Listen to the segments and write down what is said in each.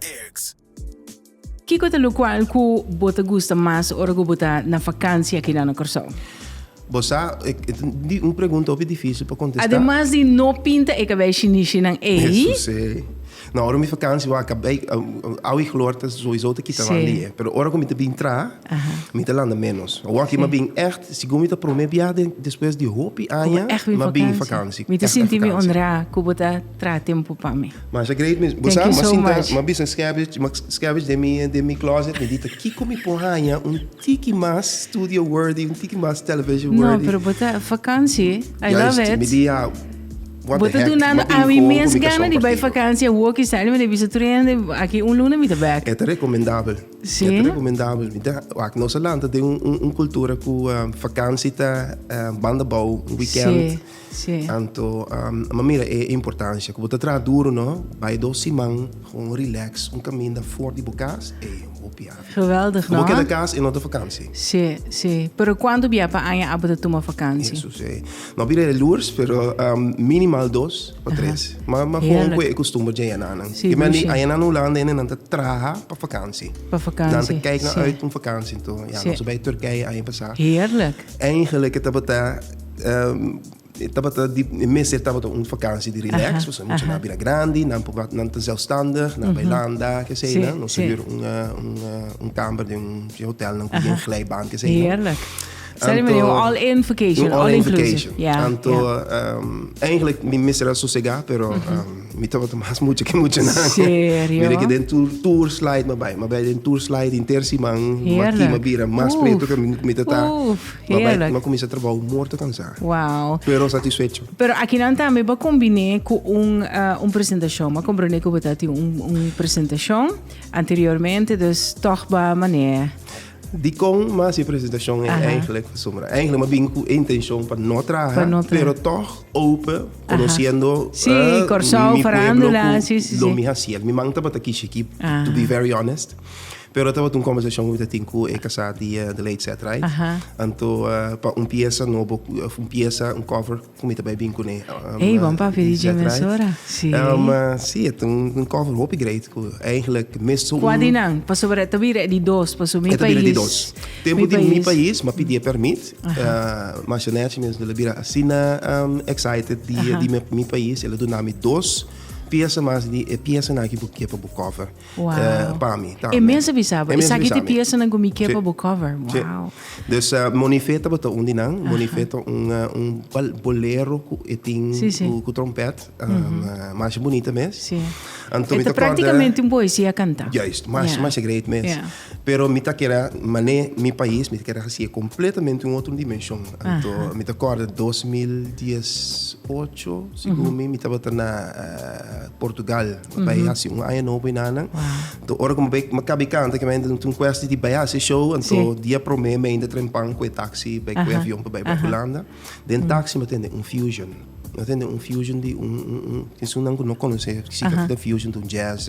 Dirks. Kiko ta lukual ku bo ta gusta mas ora ku bo ta na vakansia aki nan na Kòrsou? Bo sa, e ta un pregunta hopi difísil pa kontestá. Ademas di no pinta e kabei shinishi-nan ei. E susé. No, ora mi vakansia wak kabei, awe i klor ta souisou ta kita nan di e. Pero ora ku mi ta bin traha, mi ta landa ménos. Awor ki mi a bin ègt, segun mi ta promé biaha den despues di hopi aña, mi a bin vakansia. Mi ta sinti mi onrá ku bo ta. traha tempu pa mi. Masha great mi bo sa ma sinta ma bisa scavenge ma scavenge den mi den mi closet mi dita kiko mi por haña un tiki mas studio worthy un tiki mas television worthy no pero bo ta vakantie I Juist, love it mi di ja what bo the ta heck dunando ma tin ami kon mes ku mi ka gana di bai compartido vakantie woki sa mi ta bisa trueno de aki un luna mi ta back e ta recomendabel Si? e ta recomendabel mi ta wak nos a lanta den un un un cultura ku vakantie ta banda bou un weekend Si. Sí. Tanto, um, ma mira e importancia, como ta trabaja duro, no? Bij dos siman, gewoon relax, un caminda voor die bokaas, e hopia. Geweldig, no? Como queda kaas en otro vakantie. Sí, sí. Pero cuánto bia pa aña abo te toma vakantie? Eso, sí. No bira e lures, pero um, minimal dos o tres. Uh -huh. Ma, ma gewoon kue e costumbre ja yananan. Sí, Kima ni aña nan Holanda, en nan ta traha pa vakantie. Pa vakantie, Nan te kijk na uit un vakantie, to. Ja, sí. Ons bij Turkije aña pasá. Heerlijk. Eigenlijk, het abata... e tabata di e mes e tabata un vakantie di relax pasobra mucha nan a bira grandi nan por wak nan ta zelfstandig nan bai landa kesei nan nos ta hür un un kamber den un hotel nan ku yen glijbaan kesei nan heerlijk sa di manera un all in vacation all inclusive ya ya anto eigenlijk mi mester a sosega pero mi tabata mas mucha ke mucha nan serio mira ke den tur tur slide mi a bai mi a bai den tur slide henter siman heerlijk mi a bira mas pretu ke mi ta ta oof Heerlijk. Nan cominsá trabao morto cansá. Wow. Pero satisfecho. Pero akinan tambe bo combiné cu un, uh, un presentacion. Bo comprendé cu bo ta tin un, un presentacion anteriormente, dus toch ba mané. Dikon mas e presentacion e eigenlijk pa Sumra? Eigenlijk ma bin cu e intencion pa no traha, pero toch open, conociendo si, uh, Corsao, mi pueblo cu lo mi haciel. Mi man tabata kishi ki, to be very honest. Pero tabata un conversacion cu mi ta tin cu e casa di Adelaide Setright. Antoa pa un pieza nobo, un pieza, un cover cu mi ta bay bin cu ne. Ey, bon papi di Jim Mensora. Si. Um, si, et un, un cover hopi great cu eigenlijk mis zo'n... Qua di nan? Pasobra e ta bira e di dos, paso mi pais... E ta bira e di dos. Tempo di mi pais, ma pidi e permit. Masha Nash mes el a bira asina um excited di mi pais, el a duna mi dos pieza mas di e piezanan aki bo ke pa bo cover. Wow. pa mi tambe. E mes a bisa bo. E saki ti piesanan ku mi ke pa bo cover. Wow. Dus uh, Monife tabata un di nan. Monife ta un, uh, un bolero ku e tin si, si. Ku, ku trompet. Um, mm -hmm. uh, mas bonita mes. Si. Anto mi ta praktikamente un poesia kanta. Juist, mas, yeah. mas great mes. Yeah. Pero mi ta kera, mane mi pais, mi ta kera hasi completamente un otro dimension. Anto uh -huh. mi ta korda 2018, sigur mm -hmm. mi, mi tabata na uh, Portugal. Bo bai hasi un aña nobo y nannan. Anto ora cu bo bai, bo caba e canta cu mi ainda no tin cuestie di bai hasi e show. Anto dia prome mi ainda trempan cu e taxi bai cu e avion pa bai bay Hulanda. Den taxi mi tende un fusion. Mi tende un fusion di un, un, un, esun nan cu no conoce significa fusion, tin un jazz.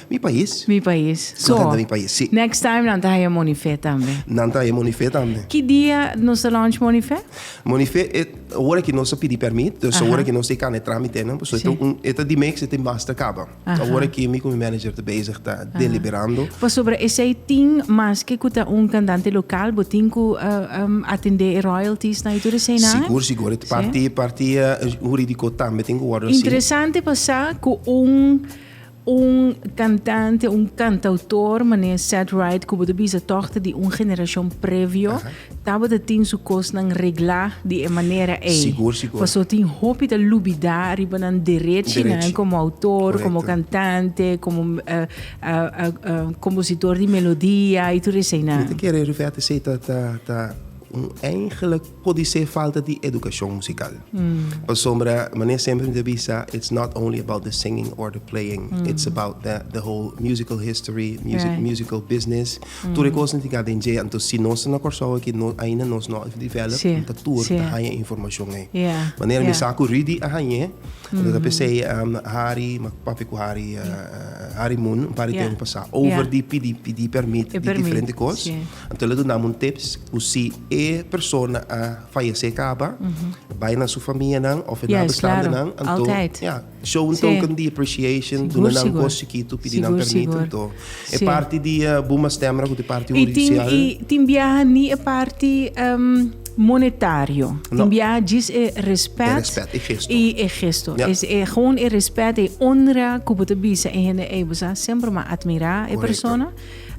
Mi pais. Mi pais. So. Contenta mi pais, si. Next time nan ta haya Monife tambe. Nan ta haya Monife tambe. Ki dia nos ta launch Monife? Monife e ora ki nos ta pidi permit, dus ta ora ki nos ta e kana e tramitenan, pasobra e ta un, e ta di mes, e ta mas ta kaba. Ta ora ki mi ku mi manager ta bezig ta deliberando. Pasobra esei tin maske ku ta un kantante lokal, bo tin ku atendé e royalties nan i tur esei nan? Sigur, sigur. E parti, parti huridiko tambe tin ku wòrdu hasi. Interesante pa sa ku un. Un kantante, un kantautor manera Seth Wright ku bo ta bisa tòg ta di un generashon previo, tabata tin su kosnan reglá di e manera ei. Sigur, sigur. Pasó tin hopi ta lubidá riba nan derechinan Derechi. komo outor, Korekto. komo kantante, komo kompositor di melodia i tur eseinan. Mi ta kere referta esei ta ta ta Un eingel pudi ser falta di edukashon musikal. Pasobra Mane semper mi ta bisa, it's not only about the singing or the playing, it's about the the whole musical history, music musical business. Tur e kos na tin ka den dje. Anto si nos ta na Kòrsou aki no ainda nos no a develop, mi ta tur ta haña e informashon ei. Manera mi sa ku Rudy a hañ'e, anto ta p'esei Hari, papia ku Hari, Hari Moon un par di tempu pasá, over di pidi pidi permit di diferente kos. Anto lo dunam un tips cu si e persona a fayece caba, bay na su familianan of e nabestandenan, anto ya, show un token di appreciation, duna nan cos chikito, pidi nan permit, anto e parti di Buma Stemra cu ta e parti judicial. Y tin biaha ni e parti monetario, tin biaha djis e respet y e gesto, es e gewoon e respet, e honra cu bo ta bisa e hende ey, bo sa semper mas admira e persona.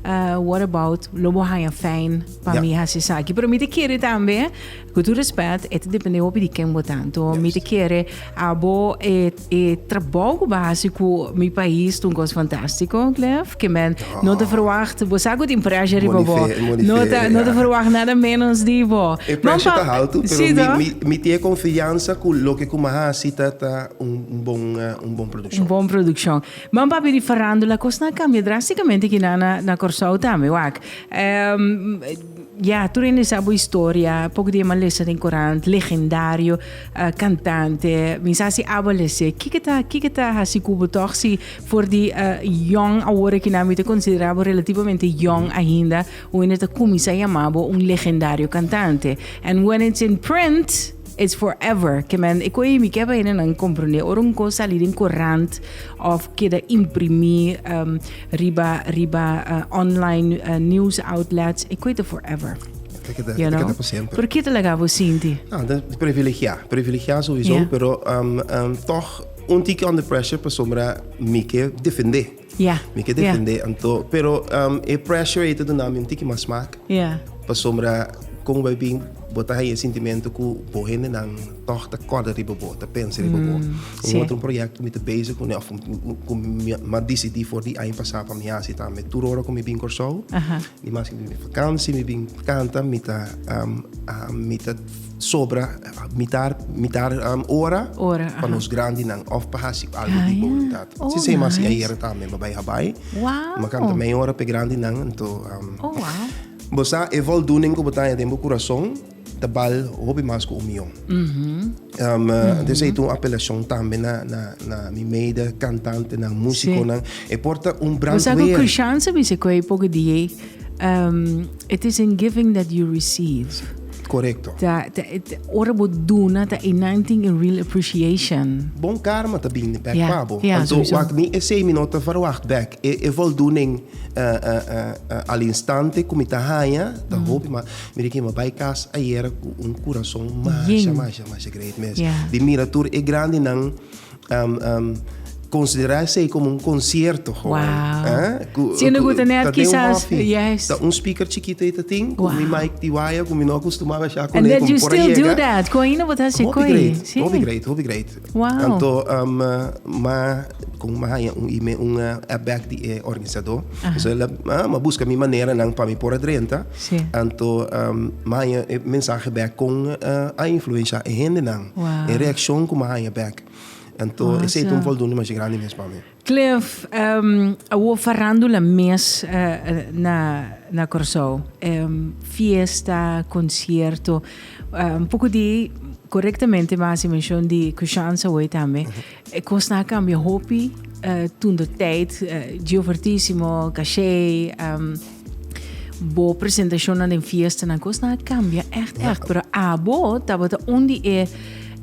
Uh, what about lo bo haya fijn pa yeah. mi hasi saki. Pero mi te kere tambe, ku tu respect, et depende hopi di ken bo tanto. Yes. Mi te kere abo e, e trabou ku ba hasi ku mi país tun kos fantástico, Clef. Ke men oh. no te verwacht, bo sa ku tin pressure riba bo. No te, no te verwacht nada menos di bo. E pressure ta alto, pero sí, mi, mi, mi te confianza ku lo ke kuma hasi ta, ta un, un bon, uh, un bon producción. Un bon producción. Mam papi di farandula cos na cambia drasticamente aquí na na na Corsou tambe wak ehm ya tur hende sa bo historia poco di e man lesa den corant legendario eh cantante mi sa si aba lese kiko ta kiko ta hasi cu bo toch si for di eh yong awor aquí nan mi ta considera bo relativamente yong ainda hoende ta cuminsa yama bo un legendario cantante and when it's in print It's forever ke men e koe mi kep ainda nan comprende ora un cos sali den corant of keda imprimi um, riba riba uh, online uh, news outlets e koe ta forever Te keda, you te know keda pa siempre. pero kita laga bo sinti Ah, dan privilegiá. Privilegiá sowieso, Yeah. pero um, um, toch un tikje under pressure pasobra mi ke defendé. Ya. Mi ke defendé anto, pero e pressure ei ta duna mi un tiki mas smak. Ya. Pasobra kon bo a bin bo ta haña e sintimentu ku bo hendenan tòg ta kòrda riba bo, ta pensa riba bo. Un otro proyekto ku mi ta bezig kuné òf ku mi a disidí for di aña pasá pa mi hasi tambe. Tur ora ku mi bin Kòrsou, dimas ku mi bin vakansi, mi bin kanta, mi ta mi ta. sobra mitar mitar um, ora, ora pa nos grandi nan of pa hasi algo ah, di voluntad. Yeah. Oh, si se nice. ayer tambe me bai habai. Wow. Ma kanta mei ora pe grandi nan to um, Oh wow. Bosa e voldoening ko botanya den bo corazon tabal hobi mas ko umion. Mm -hmm. um, uh, mm -hmm. itu un apelacion tambe na na na mi meida cantante na musico sí. nan e porta un brand Bosa ko Christian se mi se ko e poco die Um, it is in giving that you receive. Correcto. Ta, ta, ta, ora bo duna, ta in nothing in real appreciation. Bon karma ta bini back yeah. pabo. Yeah, Anto, sowieso. wak mi e sei mi no ta verwacht back. E, e voldoen uh, uh, uh, al instante ku mi ta haya, ta mm. hopi, ma mi riki ma bai kas ayer ku un kurason masha, masha, masha great mes. Yeah. Di mira tur e grandi nan Konsiderá esei komo un konsierto. Wow! Si unu gusta net kisas. Ta un speaker chikito ei ta tin, ku mi mic di waya ku mi no akustumá bashá kuné. And that you still do that. Ku ainda bo ta hasi ku ei. Hopi great, hopi great. Wow! Anto ma kon ma haña un email, un app back di e organisadó. Esei el a buska mi manera nan pa mi por a drenta. Sí. Anto maya e mensahe bek con a influencia e hendenan. Wow. E reaccion cu mi a haya bek. Anto awesome. esey ta un voldoende masha grandi mes pa mi. Cliff, um, awor farandula mes uh, na, na Corsou. Um, fiesta, concierto. Um, poco di, correctamente mi haci mencion di Kushansa awor tambe. Uh -huh. E cosnan a cambia hopi uh, tunda tijd. Uh, Gio Fortissimo, Cachet, um, Bo presentacionnan den fiestanan cos nan a cambia echt echt. Pero abo tabata un di e,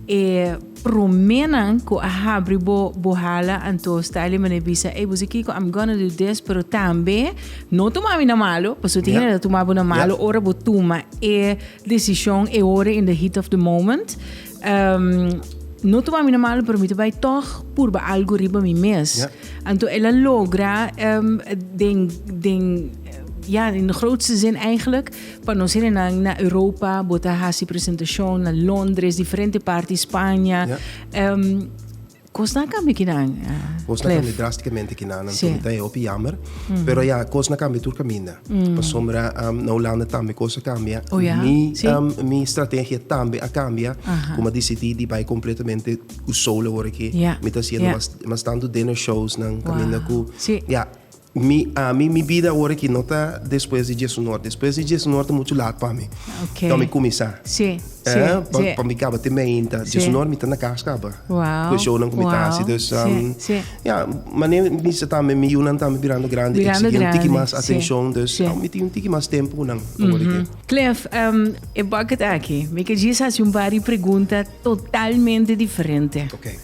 e promenan cu a habri bo, bo hala anto Stanley mane bisa, hey bosi Kiko, I'm gonna do this, pero tambe no tuma mi na malo, paso tin yeah. tuma bo na malo, yeah. ora bo tuma e decision e ora in the heat of the moment. No tuma mi na malo, pero mi ta bai tòg purba algu riba mi mes. Ja. Anto el a logra em, den, den, ja, in de grootste zin eigenlijk, pa nos hierenang na Europa, bota hasi presentacion na Londres, diferente parti Spanje. Ja. Em, Kosnan kambia kinan, Clef? Kosnan kambia drasticamente kinan, anto mi ta e hopi yammer. Pero ya, kosnan kambia tur kaminda. Pasobra na Hulanda tambe kos a kambia. Oh ya? Si. Mi, mi strategia tambe a kambia, ku mi a disidí di bai kompletamente ku solo awor aki. Ya, ya. Mi ta hasiendo mas, mas tantu dinner showsnan, kaminda ku. Wao. Si. Ya. Mi ami mi bida awor aki no ta despues di Jesu Nort. Despues di Jesu Nort ta muchu lat pa mi. Okay. Dor mi kuminsá. Sí, sí, Eh, pa, sí. pa mi kaba te meinta. Sí. Jesu Nort mi ta na kas kaba. Wauw, Ku e shownan ku mi ta wauw, hasi. Dus, sí, um, sí. ya, mane mi sa tambe, mi yunan tambe birando grandi, Birando eksigí un tiki grandi, mas sí, atenshon. Dus, sí. awo mi tin un tiki mas tempu ku nan awor aki. Cliff, em, e bucket aki, mi ke djis hasi un bar di pregunta totalmente diferente. Okay.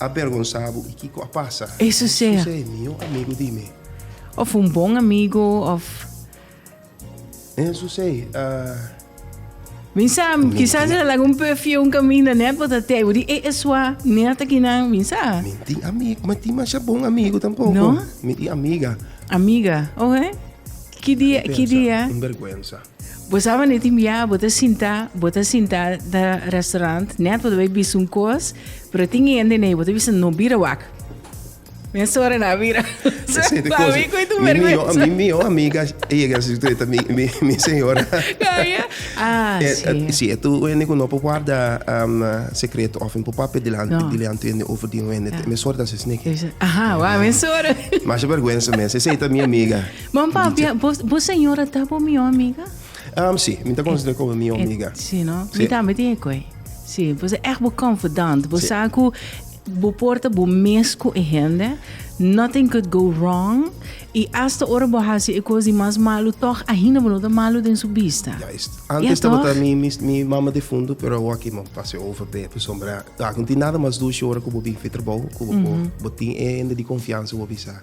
a bergonsa bo i kiko a pasa? E susé e mihó amigu di mi. Òf un bon amigu òf. E susé a. Min sa, kisas el a laga un perfium kaminda nèt bo ta tei bo di e esua nèt akinan, min sa. Min tin amigu, mi tin masha bon amigu tampoko. No? Mi tin amiga. Amiga, oke. Ki dia, ki dia? Un bergwensa. Bo sa wanneer tin bia bo ta sinta, bo ta sinta na restaurant net bo ta bai bisa un kos, pero tin hende nee bo ta bisa no bira wak. Mesora na bira. Ese tipo cosas. Ami tu mi, mi, yo, mi, mi yo amiga llega a secreta mi, mi, mi señora. Kaya? Ah, eh, sí. Eh, sí, tu wende ku no po guarda um, secreto of po pape delante, no. delante wende over di wende. Yeah. Mesora da se snake. Aha, wa mesora. Mas vergüenza mes. Ese ita mi amiga. Bon papia, bo, bo señora ta bo mi amiga? Um, sí, mi ta considera como mi amiga. Et, sí, no? Sí. Mi también tiene koi. Sí, bo se echt bo confidant. Bo sí. sa ku bo porta bo mes ku e hende. Nothing could go wrong. I hasta ora bo hasi e kos di mas malu, toch ahina bo no ta malu den su bista. Juist. Antes ja, tabata mi, mi, mi mama defunto, pero awa ki man pase over pe, pe sombra. Taak, no tin nada mas dushi ora ku bo bin fi trabou, ku bo, mm -hmm. bo tin e hende di confianza bo bisa.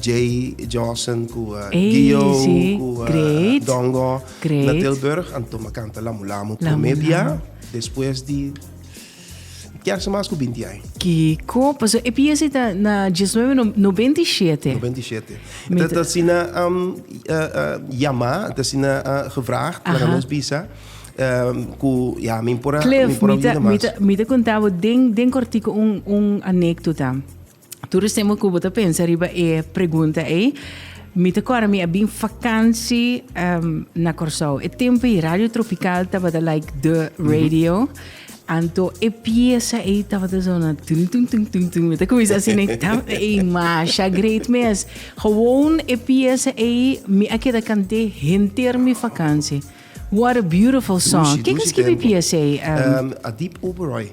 Jay, Jossen cu Gio cu Dongo na Tilburg a tuma canta Lamu Lamu prome bia despues di kier mas cu binti ai. Kico? Pasobra e pieza ta na diesnuebe nobenta i shete. Nobenta i shete. Mita. Ta asina yama, ta asina gevraagd, laga nos bisa cu ya mi por a bira mas. Cliff, mi ta conta bo den cortico un anecdota. Tur es tempo ku bo ta pensa riba e pregunta ei, mi ta kòrda mi a bin vakansi um, na Kòrsou. E tempo ei Radio Tropical tabata like the radio. Mm -hmm. Anto e pieza ei tabata zona tum tum tum tum tum. Mi ta kumisa asin ei tam ei masha great mes. Gewoon e pieza ei mi a keda kante henter mi vakansi. What a beautiful song. Kika skibi pieza ei? Um, um, Adip Oberoi.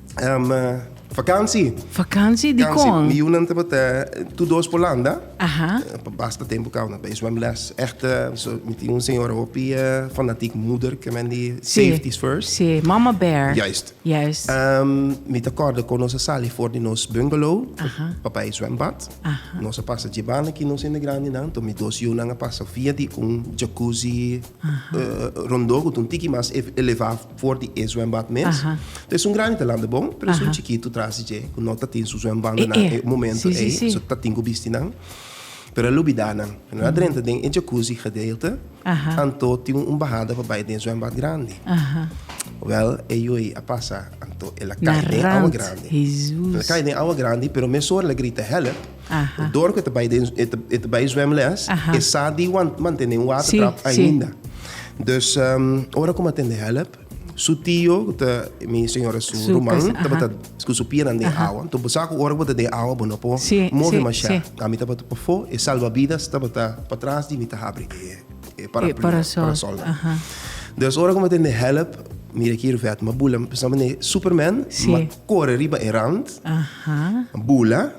Um, uh, vakansi. Vakansi di kon? Mi yunan tabata tu dos por landa. Aha. Uh, basta tempo kau na bij zwemles. Echt, uh, so, mi tin un senhora hopi uh, fanatiek moeder ke men di sí. safety is first. Sí, mama bear. Juist. Juist. Um, mi ta korda kon nos a sali for di nos bungalow. Aha. Pa bij zwembad. Aha. Nos a pasa jebana ki nos ende grandi nan. To mi dos yunan a pasa via di un jacuzzi uh, rondó ku un tiki mas elevá. for di e zwembad mes. Ta es un granita landa bon, pero es un chikitu tras di dje ku no ta tin su zwembandonan e momento ei, so ta tin ku bisti nan. Pero el lubidá nan. Ku nan a drenta den e jacuzzi gedeelte, anto tin un bahada pa bai den e zwembad grandi. Wèl, e yu ei a pasa, anto el a kai den e awa grandi. El a kai den e awa grandi, pero mesora el a grita hèlp. Aha. Dor ku e ta bai den e ta, e ta bai zwemles, Aha. e sa di wan, mantené un water Sí, trap sí. ainda. Dus ehm ora ku mantende hèlp, su tio ku ta mi señora su Su ruman kas- tabata aha. ku su pinan den Aha. awa. Enton bo sa ku ora ku bo ta den awa bo no por Sí, move sí, masha. sí. Kan mi tabata pafó, e salvavidas tabata patras di mi ta habri e e paraplu, parasol. parasol. Aha. Dus ora ku mantende hèlp, mira aki Ruvet, m'a bula, m'a pensá manera Superman, Sí. m'a kore riba e rand, Aha. m'a bula.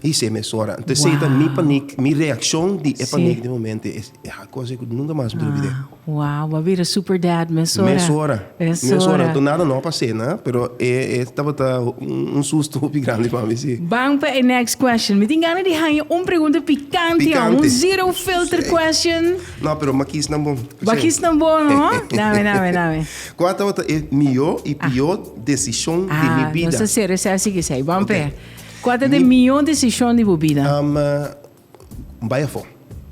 Hise mesora. Ente sei ta mi panik, mi reakshon di e panik di momento e a kos ku nunka mas mi ta olbid'é. Wow, bo a bira super dad mesora. Mesora, mesora. Anto nada no a pas'é na, pero e e tabata un susto hopi grandi pa mi, si. Ban pa e next question. Mi tin gana di haña un pregunta pikante, pikante. un zero filter question. No, pero m'a kis nan bon. Bo a kis nan bon, no? Nami, nami, nami. Kua tabata e mihó i pihó desishon di mi bida? Ah, nos ta ser esaki, esaki. Ban p'e. Kua ta den mihó desishon di bo bida? Bai afó.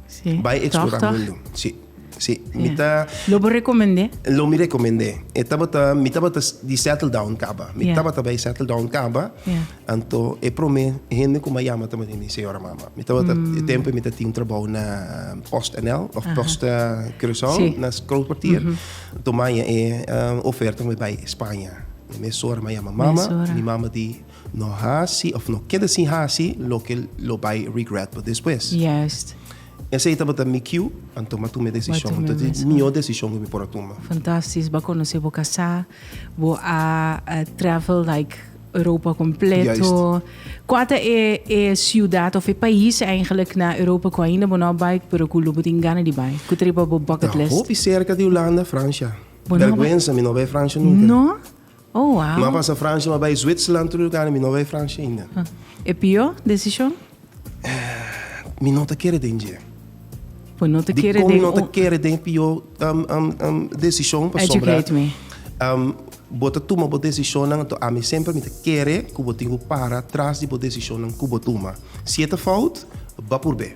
Sí. Bai eksplorá mundu. Sí. Sí. Mi ta. Lo bo rekomend'é? Lo mi rekomend'é. E tabata, mi tabata di settle down kaba. Mi tabata bai settle down kaba. Anto e promé hende ku mi a yama ta mami, mi señora mama. Mi tabata, e tempu mi ta tin trabou na Post NL òf Post Curaçao, na Kroonskwartier. Anto mi a haña e oferta pa mi bai Spaña. Mi mesora mi a yama mama, mi mama di. No hasi of no keda sin hasi loke lo bai regret bo despues. Juist. Esei tabata mi kiu a tuma tu mi desishon. Tabata e mihó desishon ku mi por a tuma. Fantastis. Bo a konosé bo kasá. Bo a travel like Europa kompleto. Juist. Kua ta e e siudat of e pais eigenlik na Europa ku ainda bo no a bai pero ku lo bo tin gana di bai? Ku ta riba bo bucket list? Ta hopi serka di Hulanda, Fransha. Bo no a bai. Bèrgwensa mi no a bai Fransha nunka. No? Oh wow. M'a pasa Francia m'a bai Zwitserland tur lugá mi no bai Francia ainda. E pió desishon? Mi no ta kere den dje. Pues no ta Di kere kon mi den no ta un- kere den e pió um, um, um, desishon pasobra Educate me. um, bo ta tuma bo desishonnan anto ami semper mi ta kere ku bo tin ku para tras di bo desishonnan ku bo tuma. Si e ta fout, ba purb'é.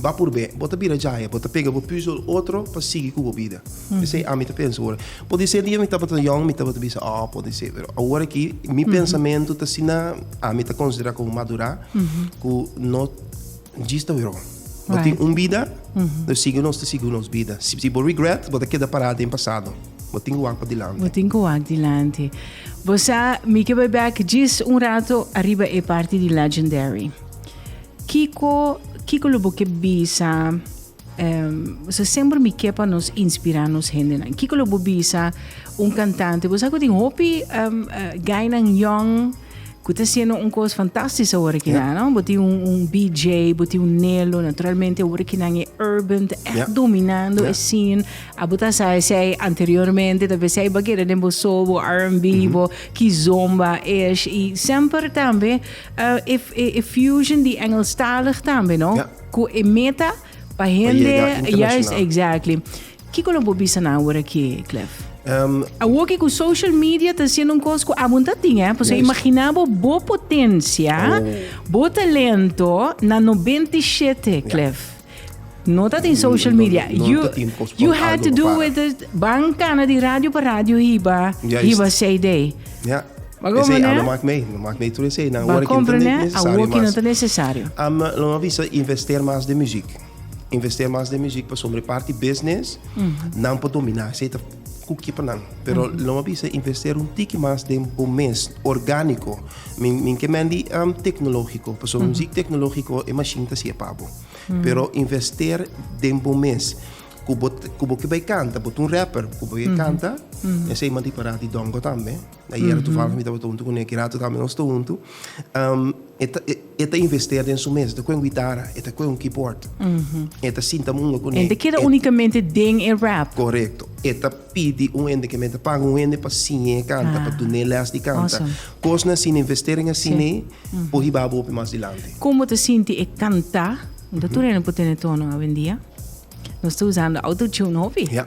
Ba purbe, bo ta bira djaya, bo ta pega bo pies ora otro pa sigui cu bo bida. Esey ami ta pensa ora. Pudi ser di mi tabata yong mi tabata bisa oh pudi ser, pero awor aki mi pensamento ta asina, ami ta considera como madura cu no djis ta wrong. Bo tin un bida, nos sigui nos ta sigui nos bida. Si bo regret, bo ta keda para den pasado. Bo tin cu wak pa dilanti. Bo tin cu wak dilanti. Bo sa, mi ke bai bek djis un rato ariba e parti di Legendary. Kiko kiko lo bo ke bisa em se semper mi ke pa nos inspirá nos hendenan kiko lo bo bisa un kantante bo sa ku tin hopi em gainan yòn ku ta hasiendo un kos fantastis awor kina no bo tin un un BJ bo tin un Nelo naturalmente awor kinan e urban ta èk Yeah. dominando e scene a bo ta sa esei anteriormente tal vez esei bo a keda den bo soul bo R&B bo ki zomba ish i semper tambe E Fusion di Engelstalig tambe no? Ja. Cu e meta pa hende. Pa yega internacional. Juist, exactly. Kico lo bo bisa nan awor aki, Cliff? Ehm. Awor ki cu social media ta haciendo un cos cu abo no ta tin, eh? Pasobra Juist. imagina bo bo potencia, Oh. bo talento na nobenta i shete, Cliff. No ta tin social media. No you, ta tin pospon you had to do with it. Ban cana di radio pa radio hiba, hiba CD. Ja. Ba comprende? Ese, no maak mee, no maak mee tur ese. Nan work internet necesario. Awor ki no ta necesario. Am, lo ma visa investeer mas de muziek. Investeer mas de muziek, pasobra parti business, mm -hmm. nan por dominá. Ese ta ku kipa nan pero lo mi a bisa investera un tiki mas den bo mes orgániko mi mi ke mendi um, teknologiko paso un sik teknologiko e mashin ta siya pa bo pero invester den bo mes ku bo ku bo ke bai kanta bo ta un rapper ku bo ke kanta esei manti para di dongo tambe Ayera toevallig mi tabata huntu cu Nicky Rato tambe nos ta huntu. E ta invester den su mes. E ta coe un guitarra, e ta coe un keyboard. E ta sinta munga cu ne. Hende keda unicamente den e rap. Corecto. E ta pidi un hende cu ta paga un hende pa siña e canta, pa dun'e les di canta. Cosnan asina, investering asina por hiba bo hopi mas dilanti. Como ta sinti e canta? Unda tur hende por tene tono awendia? Nos ta usando autotune hopi. Ja.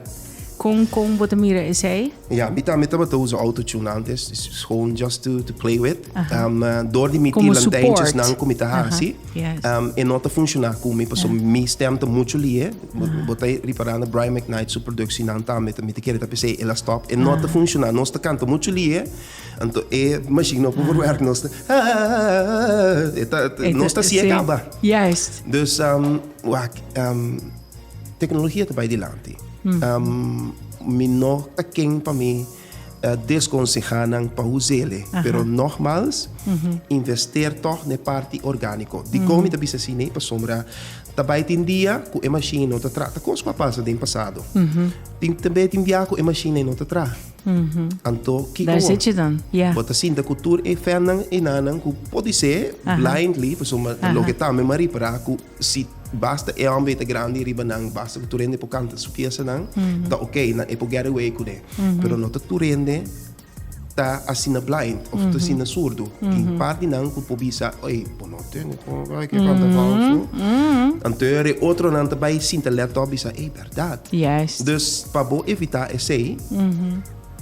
Con con bo ta mira esey? Ja, mi tambe tabata usa autotune antes. Is gewoon just to, to play with. Aha. Um, eh, door di mi Como ti support. lantijntjesnan ku mi ta Aha, hasi, yes. um, e no ta funciona ku mi, paso Ja. mi stem ta mucho lie. Bo, bo ta repara na Brian McKnight su produccionan tambe, ta mi ta kere ta p'esey el a stop. E no ta Aha. funciona. Nos ta canta mucho lie, Anto e machine no por werk nos ta ah nos ta si e kaba. Juist. Dus um wak um teknologia ta bai dilanti. Um mi no ta ken pa mi deskonseha nan pa usa el e pero nogmals invester tog na e parti organiko. Dikon mi ta bisa si nei pasobra ta bai tin dia ku e machine no ta traha ta kos ku a pasa den pasado tin tambe tin dia ku e machine ei no ta traha. Anto kiko bo? Bo ta sinta ku tur e fènnan, e nannan ku por di se blindly, pasobra mi ta loke tambe Marie para ku si basta e hòmber ta grandi riba nan, basta ku tur hende por kanta su fiestanan, ta oke, nan e por get away kuné. Pero no ta tur hende ta asina blind òf ta asina surdu. Tin part di nan ku por bisa, ey, bo no tende por kanta hòmber. Anto e ora e otronan ta bai sinta let op bisa, ey. dat. Juist. Dus pa bo evitá esei,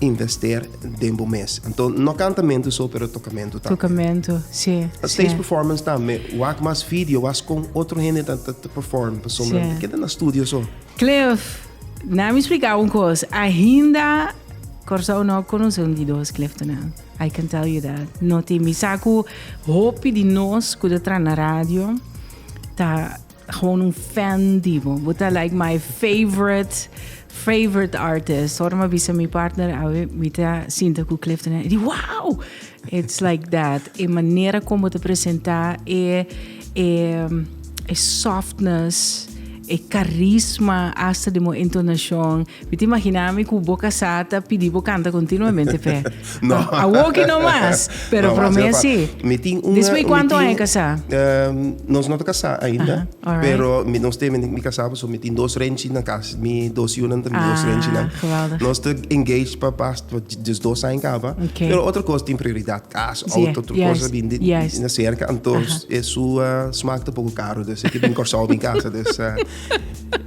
invester den bo mes. Anto no kantamentu so, pero tokamentu tambe. Tokamentu, sí. Stage performance tambe. Wak mas video, was kon otro hende ta perform pa sombra. Sí. Keda na studio so. Cliff, na mi spliká un kos. Ainda Kòrsou no a konosé un di dos Cliff Tonel. I can tell you that. No tin. Mi sa ku hopi di nos ku ta traha na radio ta. Gewoon un fan di bo. Bo ta like my favorite, favorite artist. Ora ma bisa mi partner, awe mi ta sinta ku Clifton. E di, wow! It's like that. E manera kon bo ta presenta, e, e, e softness, e carisma, hasta di mo entonacion. Mi ta imaginá mi ku bo kasá ta pidí bo kanta kontinuamente p'e. No. Awoki no mas, pero No, promé Silva, sí. Mi tin un. Despues mi kuantu tin- anja kasá? Ehm, nos no ta kasá ainda. Aha, alright. Pero mi nos te mi kasá paso mi tin dos renchi na kas. Mi dos yunan ta mi dos Ah, renchinan. geweldig. Nos ta engage pa bast pa des dos aña kaba. Ok. Pero otro kos tin prioridad. Kas, Sí, auto, otro juist, kos bindi juist. na serka. Anto Aha. e su ah, smak ta poko karu. Des e ke bin Kòrsou bin kasa. Des ah.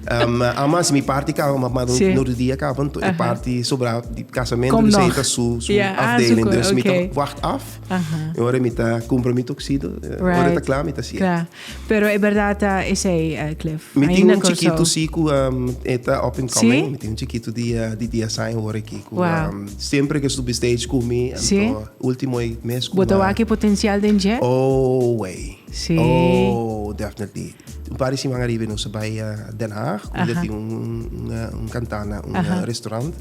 Um, ama si mi party ka, ma, ma sí. no dia ka, want uh -huh. party sobra di casamento, Kom dus hij heeft su, su yeah, afdeling, ah, dus okay. mi ta wacht af. Uh -huh. Ora mi ta compromis toxido, right. ora ta klaar, mi ta sier. Klaar. Pero e verdad ta uh, is hij, uh, Cliff? Mi tin un chiquito si ku um, eta up and coming, sí? mi tin un chiquito di, uh, di dia sain ora ki ku wow. um, siempre ke subi stage ku mi, en sí? to ultimo mes ku Boto waki potencial den je? Oh, way. Sí. Oh, definitely. Un par di siman ariba nos a bai Den Haag, kunda tin un kantana, un restaurant.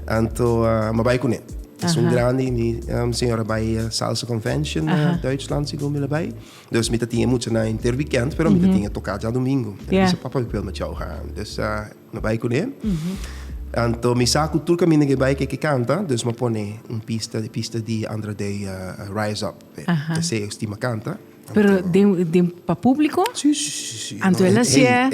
Anto m'a bai kuné. Es un grandi, mi señora bai Salsa Convention na Duitsland, si bo mira bai. Dus mi ta tin e muchanan henter wikènt, pero mi ta tin e toká djadumingu. E bisa, Papa, mi pudi bai tjou gaan. Dus m'a bai kuné. Anto mi sa ku tur kaminda ke bai ke ke kanta, dus m'a pone un pista, e pista di Andra Day, Rise Up. Esei estimba kanta. Pero den, den pa público? Sí, sí, sí, sí. Anto el hacía.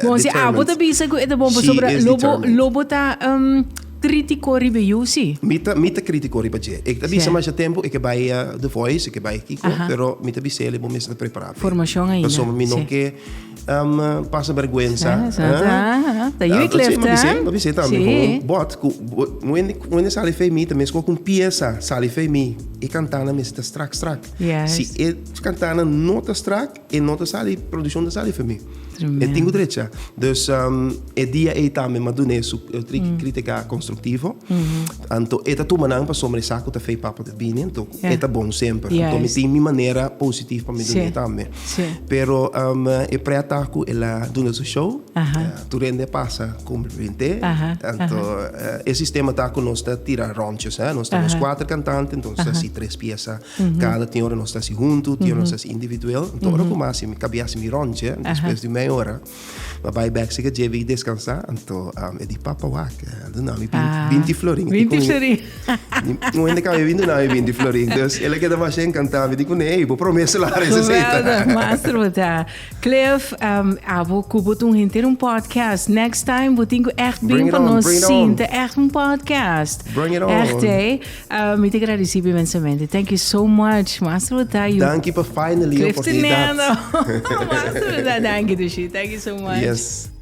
Bon, si abo te bisa que te bomba sobre lobo, lobo ta um, crítico riba you, sí. Mi ta, mi ta crítico riba je. Ik ta bisa masha tempo, ik bai a The Voice, ik bai kiko, pero mi ta bisa el, bo mester ta preparado. Formación ainda. Paso mi no ke um, pasa vergüenza. Ah, ta you ik left, hè? Mi bisa tambe gewoon, but, ku, when, when sali fe mi, ta mes ko kun pieza sali fe mi, ik cantana mester strak, strak. Yes. Si e cantana no ta strak, e no ta sali, producción ta sali femi. Tremendo. E tengo derecha. Dus um, e dia e tambe ma dune su e tri mm. crítica constructivo. Mm -hmm. Anto e ta tuma nan pa sombre saco ta fei papa de bini, anto yeah. e ta bon sempre. Yes. Anto mi tin mi manera positivo pa mi dune sí. tambe. Sí. Pero um, e preataku e la dune su show. Uh -huh. uh, Tu rende pasa cum rinde. Aha, Tanto aha. eh, e sistema ta cu nos ta tira ronchos, eh? Nos tenemos cuatro cantantes, entonces así tres piezas. Cada tiene hora nos ta así junto, tiene nos así individual. Entonces ahora como así, mi cabía así mi ronche, después de meia hora, ma bij back se que lleve y descansar, entonces um, e di papa wak, eh, doe nou mi bin- Ah, binti florin. Ik di binti con- florin. No en de cabía bin doe nou mi binti florin. Dus ele queda más encantado, mi di con nee, bo promeso la Geweldig, receta. master, want ja, Cliff, um, abo cu bo tun henter un podcast. Next time bo tin cu echt bin pa nos sinta echt un podcast. Bring it on. Echt, eh. Uh, mi te agradeci inmensamente. Thank you so much. Master Bota. Thank you for finally Cliff oportunidad. Cliff Teneno. Master Bota, thank you, Dushi. Thank you so much. Yes.